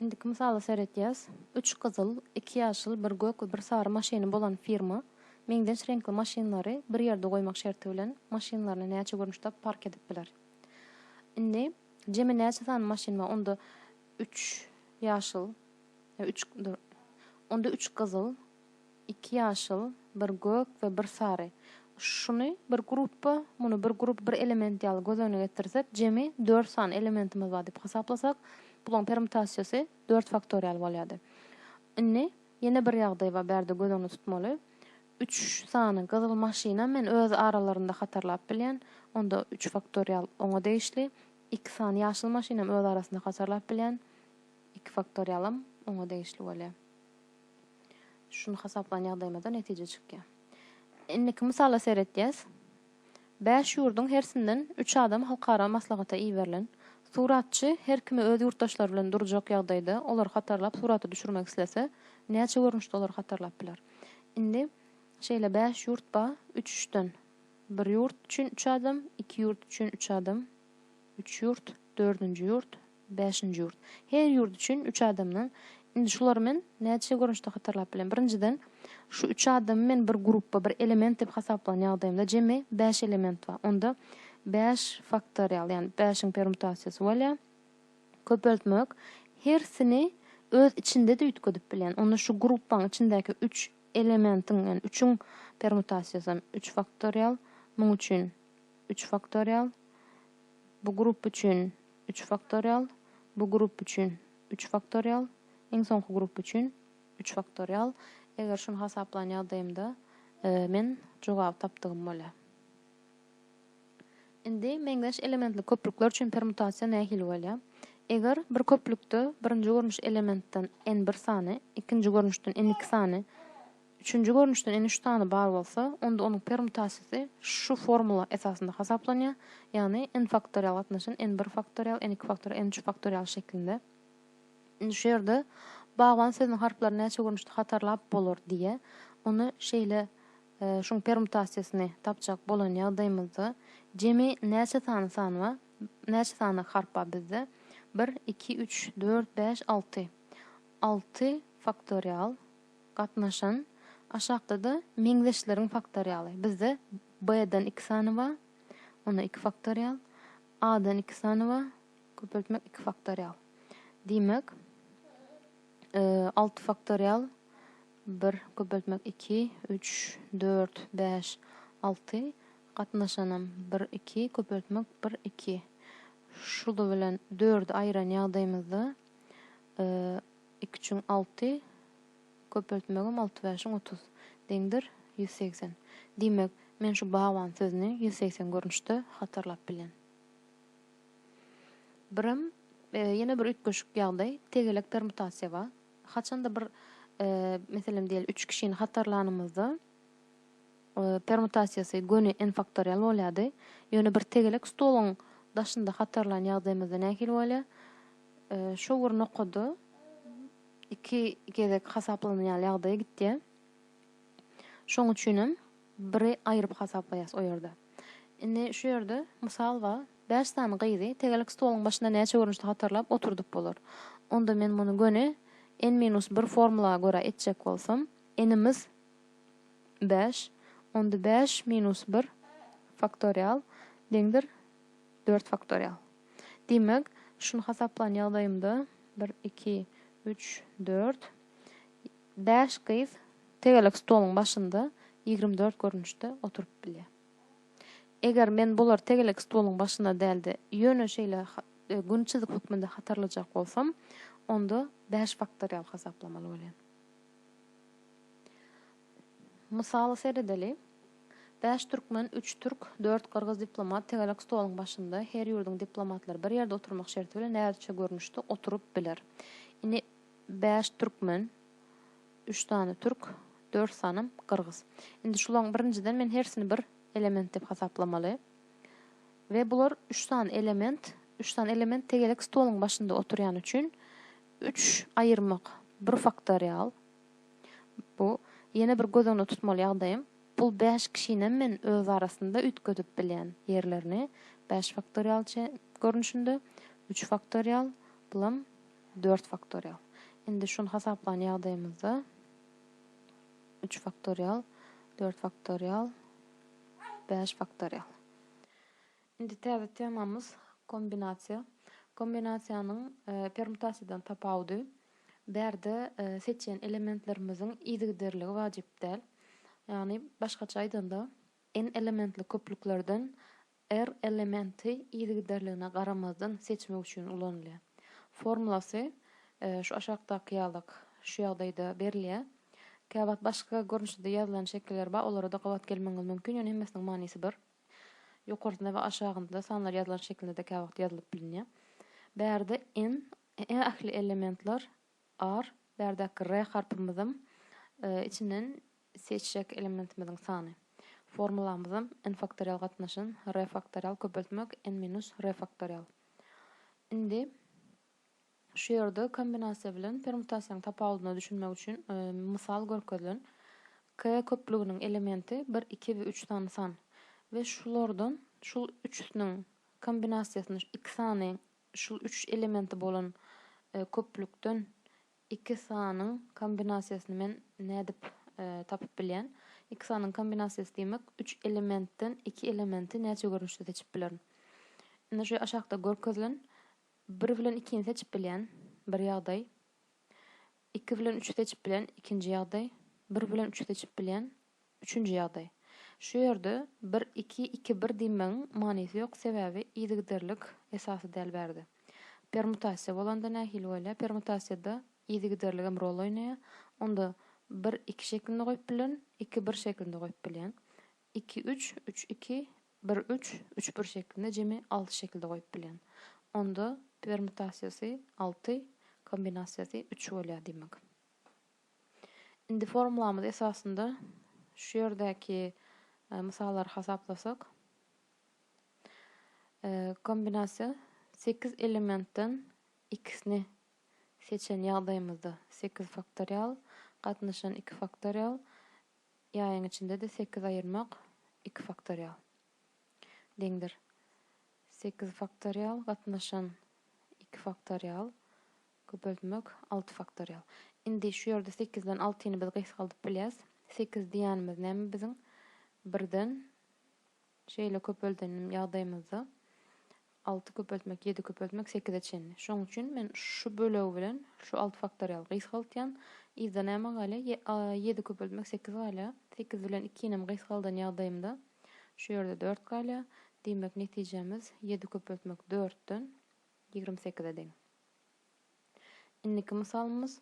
Indiki mysala seredýäs. Üç gyzyl, iki ýaşyl, bir gök we bir sary maşyny bolan firma meňzeş reňkli maşynlary bir ýerde goýmak şerti bilen maşynlaryny näçe görnüşde park edip biler? Indi jemi näçe sany maşyn bar? Onda üç ýaşyl, üç, dur, onda üç gyzyl, Iki ýaşyl, bir gök we bir sary. Şuny bir grupba, muny bir grup, bir element ýaly göz öňüne getirsek, jemi dört sany elementimiz bar diýip hasaplasak, bularyň permutasiýasy dört faktorial bolýardy. Indi ýene bir ýagdaý bar, bärde göz öňünde tutmaly. Üç sany gyzyl maşynam men öz aralarynda hatarlap bilýän. Onda üç faktorial oňa degişli. Iki sany ýaşyl maşynam öz arasynda hatarlap bilýän. Iki faktorialam oňa degişli bolýar. Şuny hasaplan ýagdaýymyzda netije çykýar. Indiki mysala seretýäs. Bäş ýurduň hersinden üç adam halkara maslahata iberilen. Suratçy her kimi öz ýurtdaşlary bilen durjak ýagdaýda olary hatarlap surata düşürmek islese, näçe görnüşde olary hatarlap biler? Indi şeýle bäş ýurt bar, üç-üçden. Bir ýurt üçin üç adam, iki ýurt üçin üç adam, üç ýurt. Dördünji ýurt, bäşinji ýurt. Her ýurt üçin üç adamdan. Indi şulary men näçe görnüşde hatarlap bilen. Birinjiden, şu üç adamy men bir grupba, bir element diýip hasaplan ýagdaýymda jemi bäş element bar. Onda bäş faktorial, ýagny bäşiň permutasiýasy bolýar. Köpeltmek hersini öz içinde-de üýtgedip bilýän. Onda şu grupbaň içindäki üç elementiň, ýagny üçüň permutasiýasy hem üç faktorial. Muň üçin üç faktorial Bu grup üçin, üç faktorial, bu grup üçin, üç faktorial, iň soňky grup üçin, üç faktorial. Eger şuny hasaplan ýagdaýymda, men jogaby tapdygym bolýar. Indi meňzeş elementli köplükler üçin permutasiýa nähili bolýar? Eger bir köplükde birinji görnüş elementden n bir sany, ikinji görnüşden n iki sany, Üçünji görnüşden ene üç sany bar bolsa, onda onuň permutasiýasy şu formula esasynda hasaplanýar, ýagny n faktorial gatnaşan n bir faktorial, n iki faktorial, n üç faktorial şeklinde. Indi şu ýerde bagban sözüniň harplaryny näçe görnüşde hatarlap bolar diýýä. Ony şeýle e, şuň permutasiýasyny tapjak bolan ýagdaýymyzda jemi näçe sany san bar? Näçe sany harp bar bizde? 1, 2, 3, 4, 5, 6. 6 faktorial Gatnaşan, aşakda-da meňzeşleriň faktorialy. Bizde B-den iki sany ba, onda iki faktorial, A-dan iki sany ba, köpeltmek iki faktorial. Diýmek, e, alty faktorial bir köpeltmek iki, üç, dört, bäş, alty, gatnaşanam bir, iki, köpeltmek bir, iki. Şuly bilen dördi aýyran ýagdaýymyzda e, Iki üçiň alty, köpeltmegem alty bäşiň otuz. Deňdir, ýüz segsen. Diýmek, men şu bagban sözüni ýüz segsen görnüşde hatarlap bilýän. Birem, ýene bir üýtgeşik ýagdaý, tegelek permutasiýa bar. Haçanda bir, meselem diýeli, üç kişini hatarlanymyzda, permutasiýasy göni n-faktorial bolýardy. Ýöne bir tegelek stoluň daşynda hatarlan ýagdaýymyzda nähili bolýar? Şu bir nokada iki gezek hasaplanan ýaly ýagdaýa gitýär. Şoň üçin hem biri aýryp hasaplaýas o ýerde. Indi şu ýerde mysal bar. Bäş sany gyzy tegelek stoluň başynda näçe görnüşde hatarlap oturdyp bolar? Onda men muny göni n minus bir formula görä etjek bolsam, n-imiz, bäş, onda bäş minus bir faktorial deňdir dört faktorial. Diýmek, şuny hasaplan ýagdaýymda, bir, iki, üç, dört, bäş gyz tegelek stoluň başynda ýigrimi dört görnüşde oturyp bilýär. Eger men bulary tegelek stoluň başynda däl-de, ýöne şeýle gün çyzyk hökmünde hatarlajak bolsam, onda bäş faktorial hasaplamaly bolýan. Mysala seredeli. Bäş türkmen, üç türk, dört gyrgyz diplomat tegelek stoluň başynda, her ýurduň diplomatlary bir ýerde oturmak şerti bilen näzikçe görnüşde oturyp biler. Indi bäş türkmen, üç sany türk, dört sanam gyrgyz. Indi şularyň birinjiden men hersini bir element diýip hasaplamaly. We bular üç sany element, üç sany element tegelek stoluň başynda oturýany üçin, Üç aýyrmak, bir faktorial. Bu, ýene bir göz öňünde tutmaly ýagdaýym, bul bäş kişinem men öz arasynda üýtgedip bilýän ýerlerini, bäş faktorial çe görnüşinde, üç faktorial, bulam dört faktorial. Indi şuny hasaplan ýagdaýymyzda, üç faktorial, dört faktorial, bäş faktorial. Indi täze temamyz kombinasiýa. Kombinasiýanyň permutasiýadan tapawudy, bärde seçýän elementlerimiziň yzygiderligi wajyp däl. Ýagny başgaça aýdanda, N elementli köplüklerden R elementi yzygiderligine garamazdan seçmek üçin ulanylýar. Formulasy şu aşakdaky ýalak şu ýagdaýda berilýär. Käwagt başga görnüşde-de ýazylan şekiller bar, olara-da gabat gelmegiňiz mümkin, ýöne hemmesiniň manysy bir. Ýokarsynda we aşagynda sanlar ýazylan şekilde-de käwagt ýazylyp bilinýär. Bärde n ähli elementler bar. Bärdäki r harpymyzam içinden seçjek elementimiziň sany. Formulamyzam n faktorial gatnaşyn r faktorial köpeltmek n minus r faktorial. Indi. Şu ýerde kombinasiýa bilen permutasiýanyň tapawudyna düşünmek üçin mysal görkezilen. K köplüginiň elementi bir, iki we üç sany san we şulardan şul üçüsiniň kombinasiýasyny iki sany şul üç elementi bolan köplükden iki sanyň kombinasiýasyny men nädip tapyp bilýän? Iki sanyň kombinasiýasy diýmek üç elementden iki elementi näçe görnüşde seçip bilerin? Indi şu aşakda görkezilen Bir bilen ikini seçip bilýän, bir ýagdaý. Iki bilen üçi seçip bilýän, ikinji ýagdaý. Bir bilen üçi seçip bilýän, üçünji ýagdaý. Şu ýerde bir, iki, iki, bir diýmegiň manysy ýok, sebäbi yzygiderlik esasy däl bärde. Permutasiýa bolanda nähili bolýar? Permutasiýada yzygiderligem rol oýnaýar. Onda bir, iki şeklinde goýup bilerin, iki, bir şeklinde goýup bilýän. Iki, üç, üç, iki, bir, üç, üç, bir şeklinde jemi alty şekilde goýup bilýän. Onda permutasiýasy alty, kombinasiýasy üç bolýar diýmek. Indi formulamyz esasynda şu ýerdäki mysallary hasaplasak, kombinasiýa sekiz elementden ikisini seçen ýagdaýymyzda sekiz faktorial gatnaşan iki faktorial Ýaýyň içinde-de sekiz aýyrmak iki faktorial deňdir. Sekiz faktorial gatnaşan iki faktorial köpeltmek alty faktorial. Indi şu ýerde sekizden altyny biz gysgaldyp bilýäs. Sekiz diýýänimiz näme biziň? Birden şeýle köpelden ýagdaýymyzda Alty köpeltmek, ýedi köpeltmek, sekize çenli. Şonuň üçin men şu bölegi bilen şu alty faktorialy gysgaltýan. Yzda näme galýar? Ýe, a, ýedi köpeltmek, sekiz galýar. Sekiz bilen ikinem gysgaldan ýagdaýymda şu ýerde dört galýar. Diýmek, netijemiz ýedi köpeltmek dörtden ýigrimi sekize deň. Indiki mysalymyz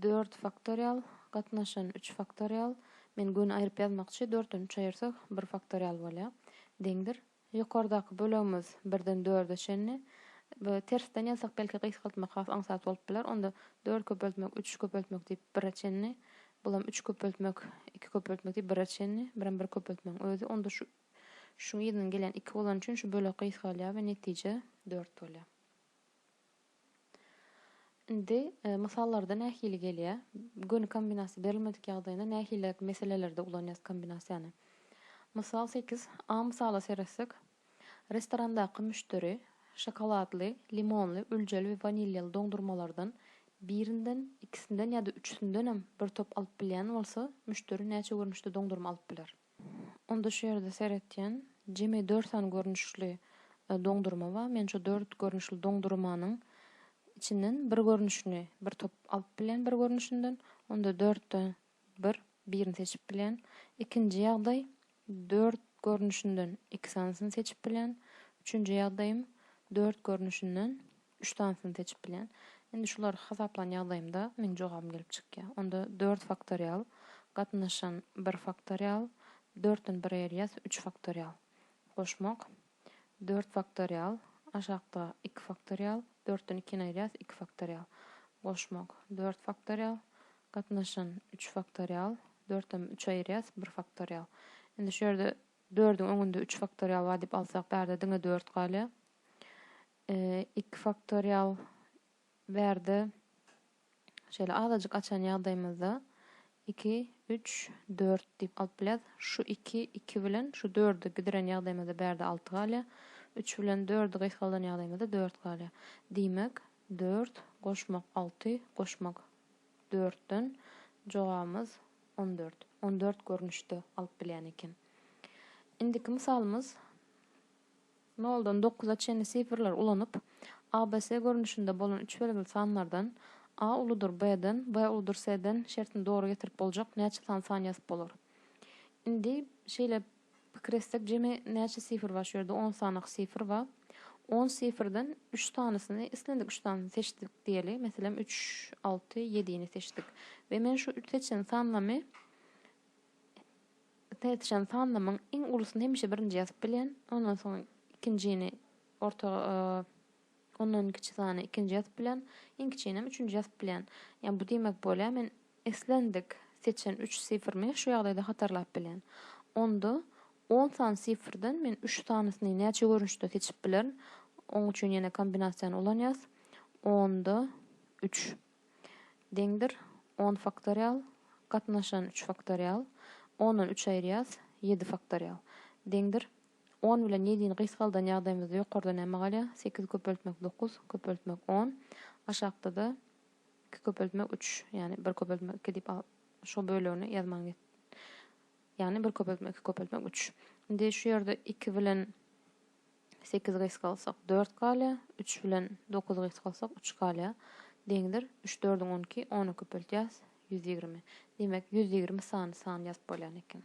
dört faktorial gatnaşan üç faktorial. Men göni aýryp ýazmakçy, dörtden üç aýyrsak bir faktorial bolýar. Deňdir. Ýokardaky bölegimiz birden dörde çenli. Bu tersden ýazsak belki gysgaltmak has aňsat bolup biler. Onda dört köpeltmek üç köpeltmek diýip bire çenli. Bulam üç köpeltmek iki köpeltmek diýip bire çenli. Birem bir köpeltmegiň özi. Onda şu şuň yzynyň gelýän iki bolany üçin şu bölek gysgalýar we netije dört bolýar. Indi mysallarda nähili gelýär? Göni kombinasiýa berilmedik ýagdaýynda nähiliräk meselelerde ulanýarys kombinasiýany? Mysal sekiz. A mysaly seretsek, restorandaky müşderi şokoladly, limonly, üljeli we wanilýaly doňdurmalardan birinden, ikisinden ýa-da üçüsindenem bir top alyp bilýän bolsa, müşderi näçe görnüşde doňdurma alyp biler? Onda şu ýerde seretýän jemi dört sany görnüşli doňdurma bar. Men şu dört görnüşli doňdurmanyň içinden bir görnüşini, bir top alyp bilýän bir görnüşinden. Onda dörtde bir, birini seçip bilýän. Ikinji ýagdaý, dört görnüşinden iki sanysyny seçip bilýän. Üçünji ýagdaýym, dört görnüşinden Üç sanysyny seçip bilýän. Indi şulary hasaplan ýagdaýymda meň jogabym gelip çykýar. Onda dört faktorial, gatnaşan bir faktorial, dörtden bir aýyrýas, üç faktorial. Goşmak, dört faktorial, aşakda iki faktorial, dörtden ikini aýyrýas, iki faktorial. Goşmak, dört faktorial, gatnaşan üç faktorial, dörtden üçi aýyrýas, bir faktorial. Indi şu ýerde dördüň öňünde üç faktorial bar diýip alsak, bärde diňe dört galýar. Iki faktorial bärde şeýle azajyk açan ýagdaýymyzda iki, üç, dört diýip alyp bilýäs. Şu iki, iki bilen şu dördi bidiren ýagdaýymyzda bärde alty galýar. Üç bilen dördi gysgaldan ýagdaýymyzda dört galýar. Diýmek, dört goşmak alty goşmak dörtden jogabymyz on dört. On dört görnüşde alyp bilýän eken. Indiki mysalymyz Noldan dokuza çenli sifrleri ulanyp, abs görnüşinde bolan üç belgili sanlardan, A uludyr B-den, B uludyr C-den şertini dogry getirip boljak näçe san san ýazyp bolar? Indi şeýle pikir etsek, jemi näçe sifr bar? Şu ýerde on sanaky sifr bar. On sifrden üç sanysyny, islendik üç sanysyny seçdik diýeli. Meselem, üç, alty, ýedini seçdik. We men şu üç seçen sanlamy Täzeçen sanlamyň iň ulusyny hemişe birinji ýazyp bilen, ondan soň ikinjini orta ondan kiçi sany ikinji ýazyp bilen, iň kiçinem üçünji ýazyp bilen. Ýa bu diýmek bolýar men islendik seçen üç sifrimi şu ýagdaýda hatarlap bilen. Onda on sany sifrden men üç sanysyny näçe görnüşde seçip bilerin? Oň üçin ýene kombinasiýany ulanýas. Onda üç. deňdir, on faktorial, gatnaşan üç faktorial, ondan üç aýyrýas, ýedi faktorial, deňdir, on bilen ýedini gysgaldan ýagdaýymyzda ýokarda näme galýar, sekiz köpeltmek dokuz, köpeltmek on, aşakda-da iki köpeltmek üç, ýagny bir köpeltmek iki diýip al, şo bölegini ýazmaň net, ýagny bir köpeltmek iki köpeltmek üç. Indi şu ýerde iki bilen. Sekiz gys galsak, dört galýar. Üç bilen dokuz gys galsak, üç galýar. Deňdir. Üç-dördüň on iki, ony köpeltýäs, ýüz ýigrimi. Diýmek, ýüz ýigrimi sany san ýazyp bolýan eken.